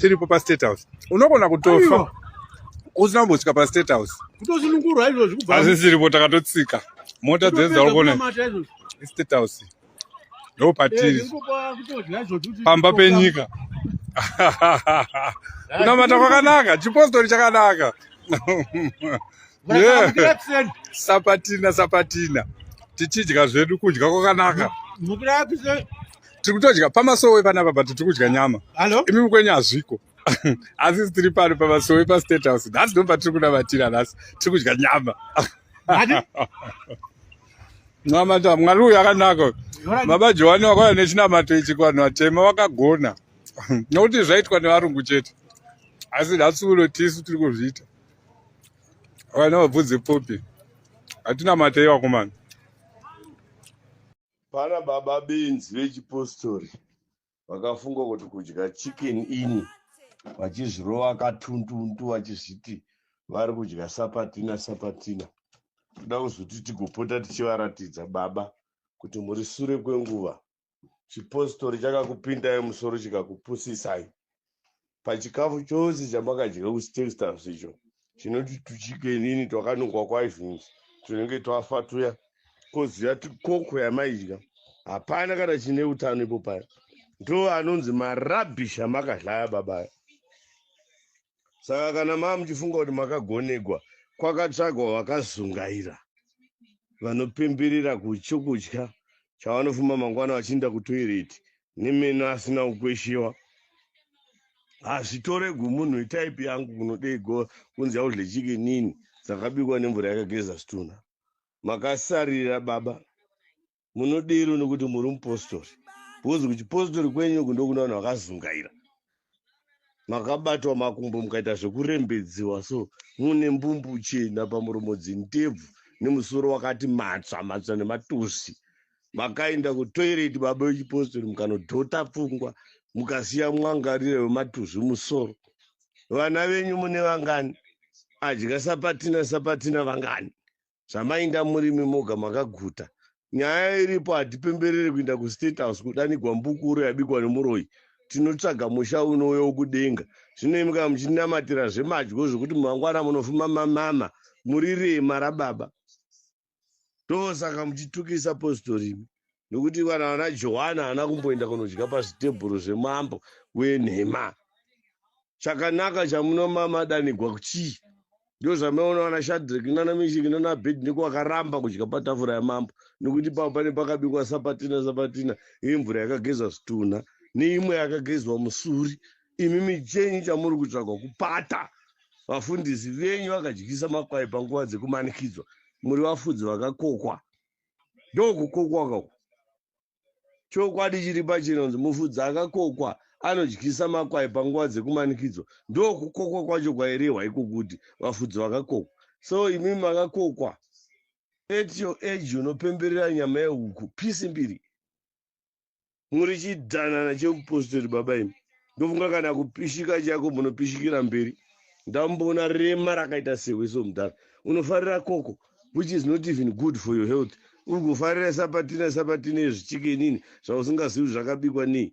tiripo pastate house unogona kutofa usina kumbosvika pastate house kutosunungurwa izvozvi kubva hazvisiripo takatotsika mota dzedzaukone estate house ndo patiri pamba penyika kunamata kwakanaka chipostori chakanaka sapatina sapatina tichidya zvedu kudya kwakanaka tiri kutodya pamasowe panapa but tiri kudya nyama imi mukwenyu hazviko asi tiri pano pamasowe pastate house nhasi ndo patiri kunamatira nhasi tiri kudya nyama namata mwari uyu akanaka baba johani wakauya nechinamato ichi kuvanhu vatema vakagona nokuti zvaitwa nevarungu chete asi nhasi uno tisu tiri kuzviita vana vabvunze popi hatina matei vakomana Pana baba benzi vechipostori vakafunga kuti kudya chicken ini vachizvirova katuntuntu vachizviti vari kudya sapatina sapatina. Toda kuzoti tigopota tichivaratidza baba kuti muri sure kwenguva chipostori chakakupindai musoro chikakupusisai pachikafu chose chamakadya kuchitextams icho chinoti tuchikenini twakanungwa kwaizvinzi tunenge twafa tuya koziva tikoko yamaidya hapana kana chine utano ipo paya ndo anonzi marabish amakadlaya babaya saka kana maa muchifunga kuti makagonegwa kwakatsvagwa vakazungaira vanopemberera kuchokudya chavanofuma mangwana vachiinda kutoireti nemeno asina kukweshewa hazvitore gumunhu itaipi yangu kunodei go kunzi yaudle chikinini dzakabikwa nemvura yakageza zvitunha makasarira baba munodero nekuti muri mupostori bhozi kuchipostori kwenyu uku ndokuna vanhu vakazungaira makabatwa makumbo mukaita zvekurembedziwa so mune mbumbu chena pamuromo dzintebvu nemusoro wakati matsva matsva nematusi makaenda kutoireti baba vechipostori mukanodhota pfungwa mukasiya mwangarira wematuzvi musoro vana venyu mune vangani adya sapatina sapatina vangani zvamainga murimi moga makaguta nyaya iripo hatipemberere kuinda kustate house kudanigwa mbukuru yabikwa nemuroyi tinotsvaga musha unouya wokudenga zvino imi kana muchinamatira zvemadyo zvekuti mangwana munofuma mamama muri rema rababa ndosaka muchitukisa postori imi nokuti vana vana johani haana kumboenda kunodya pazvitebhuru zvemambo wenhema chakanaka chamunomamadanigwa kuchii ndo zvamaona vana shadrik nana mishiki nana bed niko vakaramba kudya patafura yamambo nokuti pavo pane pakabikwa sapatina sapatina yemvura yakagezwa zvitunha neimwe yakagezwa musuri imi michenyu chamuri kutsvagwa kupata vafundisi venyu vakadyisa makwai panguva dzekumanikidzwa muri vafudzi vakakokwa ndokukokwa uku chokwadi chiri pachinonzi mufudzi akakokwa anodyisa makwai panguva dzekumanikidzo ndokukokwa kwacho kwairehwa iko kuti vafudzi vakakokwa so imi makakokwa at your age unopemberera nyama yehuku pisi mbiri muri chidanana cheupostori baba imi ndofunga kana kupishika chako munopishikira mberi ndamboona rema rakaita sewe so mudhara unofarira koko which is not even good for your health uri kufarira sapatina sapatina yezvichikenini zvausingazivi zvakabikwa nei